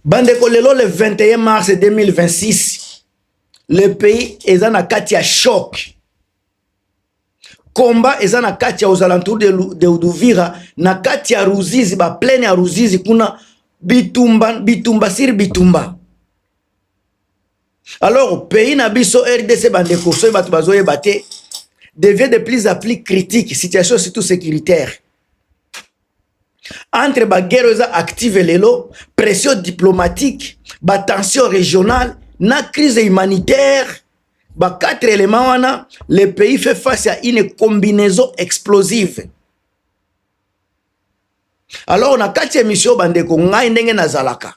bandeko lelo le 21 mars 2026 le pays eza na kati ya choc komba eza na kati ya aux alentours de, de Uduvira na kati ya Ruzizi ba plaine ya Ruzizi kuna bitumba bitumba siri bitumba alors pays na biso rdc bandeko soki bato bazoyeba te devient de plus en plus critique situation surtout sécuritaire entre ba guerre oyo eza active lelo pression diplomatique ba tension régionale na crise humanitaire ba quatre éléments wana le pays fait face à une combinaison explosive alors na kati ya emission bandeko ngai ndenge nazalaka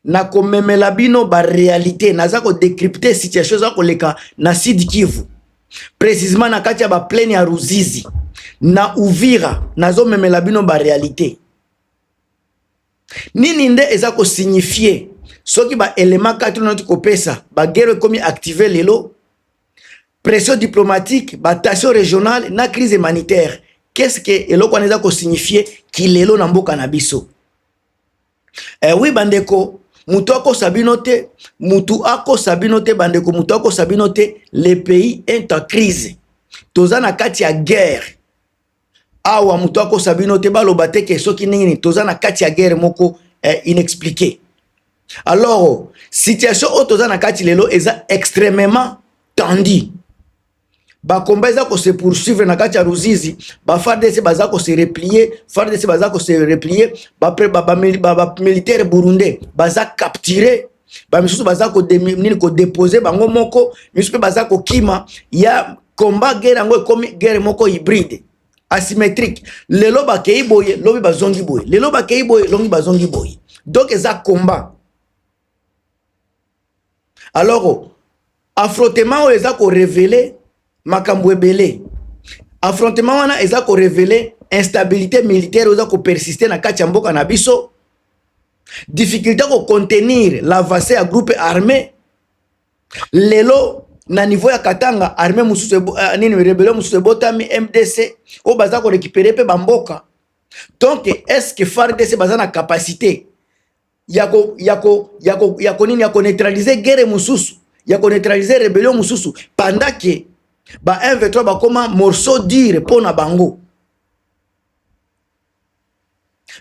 na komemela bino ba réalité naza ko décrypter situation eza koleka na Sud Kivu précisément na kati ya ba plaine ya Ruzizi na Uvira nazo memela bino ba réalité nini nde eza ko signifier soki ba élément kati noti kopesa ba guerre ekomi activer lelo pression diplomatique ba tension régionale na crise humanitaire qu'est-ce que eloko wana eza ko signifier kilelo na mboka na biso Eh oui bandeko, mutu akosa bino te, mutu akosa bino te bandeko, mutu akosa bino te. Le pays est en crise. Toza na kati ya guerre. Awa mutu akosa bino te baloba te ke soki nini toza na kati ya guerre moko eh, inexpliquée. Alors, situation oyo toza na kati lelo eza extrêmement tendue. bakomba eza kose poursuivre na kati ya ruzizi bafardc baza kose replie fardc baza kose replie bamilitaire burundais baza capture bamisusu baza nini kodepose bango moko misusu mpe baza kokima ya combat guerre yango ekomi guerre moko hybride asymétrique lelo bakei boye lobi bazongi boye lelo bakei boye longi bazongi boye donc eza combat alors affrontement oyo eza ko revele makambo ebele affrontement wana eza ko revele instabilité militaire oyo eza ko persister na kati ya mboka na biso difficulté ya kocontenir l'avancée ya groupe armé lelo na niveau ya katanga armé mosusu uh, nini rebele mosusu ebotami mdc oyo baza korekipere mpe bamboka donc est ce que fardc baza na capacité yako yako yako yako nini yako neutraliser guerre mususu yako neutraliser rebellion mususu pendant que ba M23 bakoma morceau dur pona bango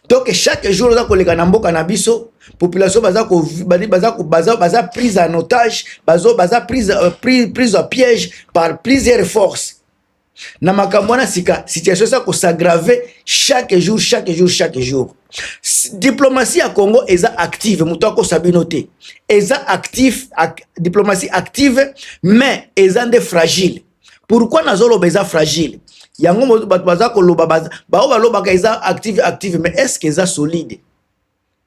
donc chaque jour oza koleka na mboka na biso population baza ko baza baza baza prise en otage bazo baza prise euh, prise prise en piège par plusieurs forces na makambo wana sika situation eza kosagrave chaque jour chaque jour chaque jour diplomatie ya congo eza active moto akosa bino te eza actif ak, diplomatie active mais eza nde fragile pourquoi nazoloba eza fragile yango bato baza koloba baoyo balobaka eza active active mais est ce que eza solide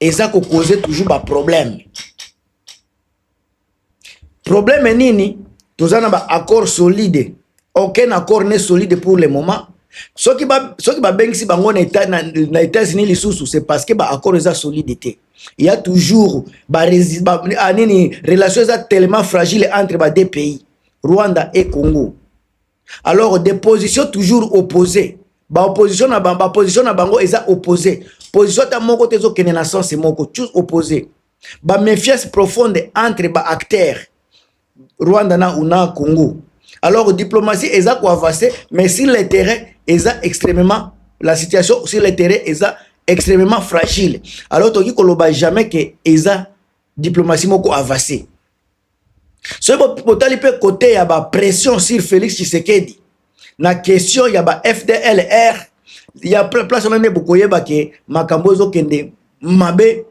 eza ko cause toujours ba problème problème nini toza na ba accord solide aucun accord ne solide pour le moment soki ba soki babengisi bango na etat na, na États-Unis lisusu c'est parce que ba accord eza solide te il y a toujours ba, ba ah, nini relation eza tellement fragile entre ba deux pays Rwanda et Congo alors des positions toujours opposées ba opposition na bango ba position na bango eza opposé position ata moko te ezokende na sens moko tous opposé ba méfiance profonde entre ba acteurs Rwanda na una Congo alors diplomatie eza ko avancer mais sur le terrain eza extrêmement la situation sur le terrain eza extrêmement fragile alors toki koloba jamais que eza diplomatie moko avancer soki botali mpe kote ya ba pression sur Felix Tshisekedi na question ya ba FDLR ya place wana nde bokoyeba ke makambo ezokende mabe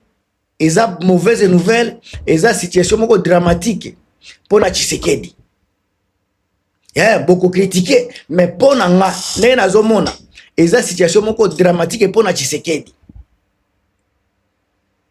eza mauvaise nouvelle eza situation moko dramatique mpo na Tshisekedi eh, bokokritike mais mpo na nga ndenge nazomona eza situation moko dramatique mpo na Tshisekedi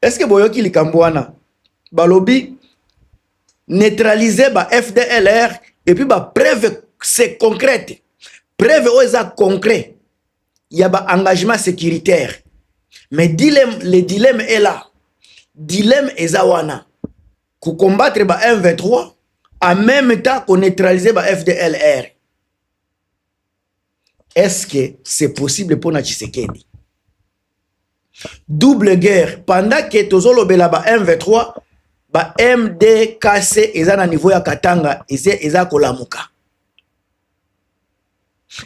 Est-ce que boyoki likambo wana? Balobi neutraliser ba FDLR et puis ba preuve c'est concrète. Preuve oyo eza concret ya ba engagement sécuritaire. Mais dilemme, le dilemme est là. Dilemme eza wana. Ko combattre ba M23 en même temps ko neutraliser ba FDLR. Est-ce que c'est possible pona Tshisekedi? Double guerre pendant que tozolobela ba M23 ba MDKC eza na niveau ya Katanga eza, eza kolamuka.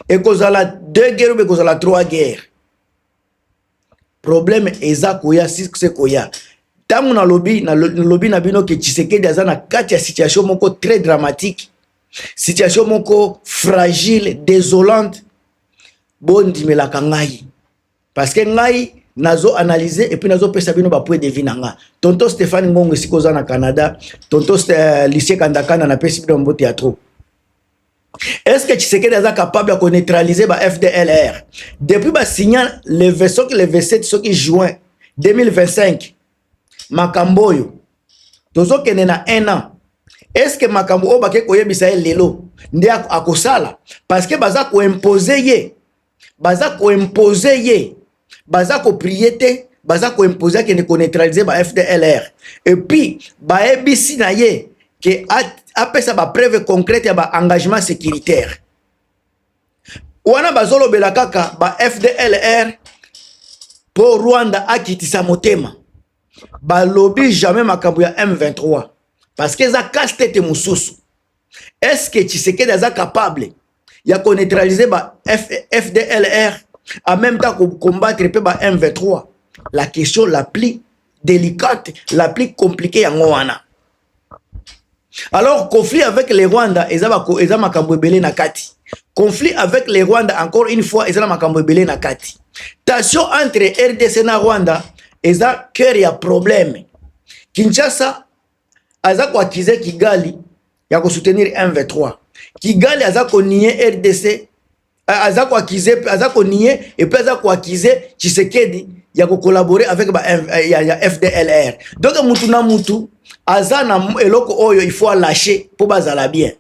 Ekozala deux guerres ou ekozala trois guerres. problème eza koya sikse koya ntango nalobi nalobi na bino ke tshisekedi aza na kati ya situation moko très dramatique situation moko fragile désolante bondimelaka ngai parce que ngai nazo analyse epuis nazopesa bino bapoint de vie na nga tonto stéphane ngongo esika oza na canada tonto euh, lisie kandakanda napesi bino mbote ya trop Est-ce que Tshisekedi est capable de neutraliser ba FDLR Depuis ba signa le vaisseau que le vaisseau ce qui juin 2025 makamboyo tozo kende na 1 an. Est-ce que makambo oyo bake koyebisa ye lelo nde akosala parce que baza ko imposer ye baza koimpose ye baza koprie te baza koimpose akende koneutralize ba fdlr epuis bayebisi na ye ke apesa bapreuve concrète ya baengagement sécuritaire wana bazolobela kaka ba fdlr mpo rwanda akitisa motema balobi jamais makambo ya m23 parce que eza casse tete mosusu est ce que tshisekedi aza capable ya koneutralize ba F, fdlr en même temps kocombattre mpe ba m23 la question la plus délicate la plus compliquée yango wana alors conflit avec le rwanda eza, bako, eza makambo ebele na kati conflit avec le rwanda encore une fois eza na makambo ebele na kati tension entre rdc na rwanda eza cœur ya problème kinshasa aza ko accuser Kigali ya ko soutenir M23 Kigali aza ko nier RDC aza ko accuser aza ko nier et puis aza ko accuser Tshisekedi ya ko collaborer avec ba eh, ya, ya FDLR donc mutu na mutu aza na eloko oyo il faut lâcher pour bazala bien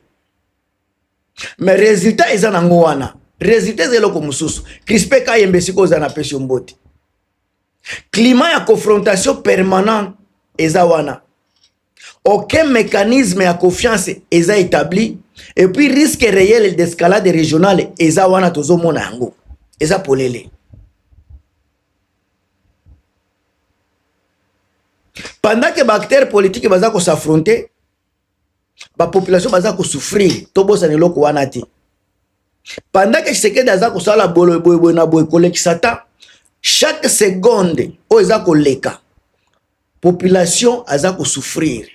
mais résultat eza nango wana résultat eza eloko mosusu crispe kayembe sikoyo oza na pesi yo mbote climat ya confrontation permanente eza wana aucun mécanisme ya confiance eza établi et puis risque réel d'escalade régionale eza wana tozomona yango eza polele pendant que baacteur politique baza ko s'affronter ba population baza ko souffrir to bosana eloko wana te pendant que Tshisekedi aza kosala bolo boye boye na boye kolekisa ta chaque seconde oyo eza koleka population aza kosouffrir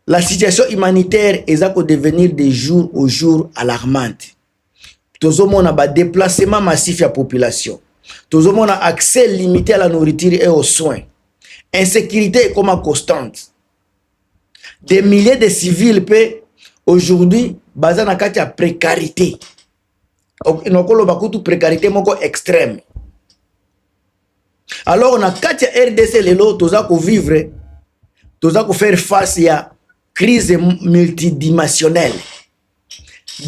la situation humanitaire eza kodevenir de jour au jour alarmante tozomona ba déplacement massif ya population tozomona accès limité à la nourriture et aux soins insécurité ekoma constante des milliers de civils mpe aujourd'hui baza na kati ya précarité nakoloba kutu précarité moko extrême alors na kati ya rdc lelo toza kovivre toza kofaire face ya crise multidimensionnelle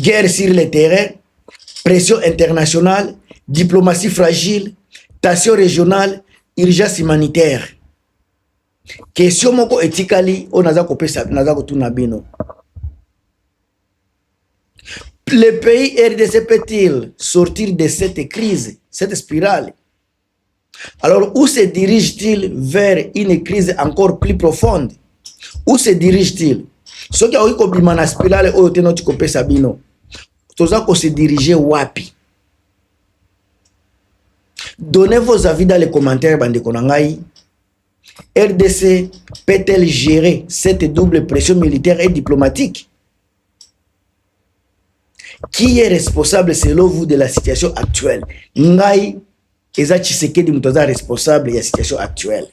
guerre sur le terrain pression internationale diplomatie fragile tension régionale urgence humanitaire question moko etikali oyo naza kopesa naza kotuna bino le pays rdc peut-il sortir de cette crise cette spirale Alors, où se dirige-t-il vers une crise encore plus profonde? Où se dirige-t-il? Soki aoki kobima na spirale oyo te noti kopesa bino, toza ko se diriger wapi? Donnez vos avis dans les commentaires, bandeko na ngai. RDC peut-elle gérer cette double pression militaire et diplomatique? Qui est responsable selon vous de la situation actuelle? Ngai eza Tshisekedi moto aza responsable ya situation actuelle.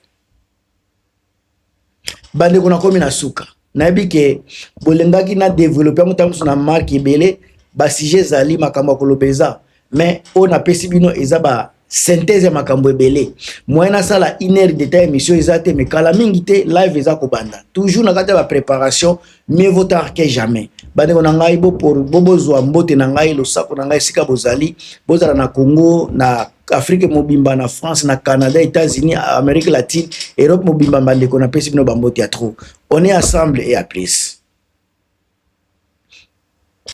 Bandeko nakomi na suka, nayebi ke bolingaki na developpe yango ntango mosusu na marque ebele, ba sujet ezali makambo ya koloba eza mais oyo napesi bino eza ba synthèse ya makambo ebele moyen asala une heure d'état émission eza te mais kala mingi te live eza kobanda toujours na kati ya bapréparation mieux vaut tard que jamais bandeko na ngai bozwa mbote na ngai losako na ngai esika bozali bozala na congo na afrique mobimba na france na canada états-unis amérique latine europe mobimba bandeko napesi bino bambote ya trop on est ensemble et à plus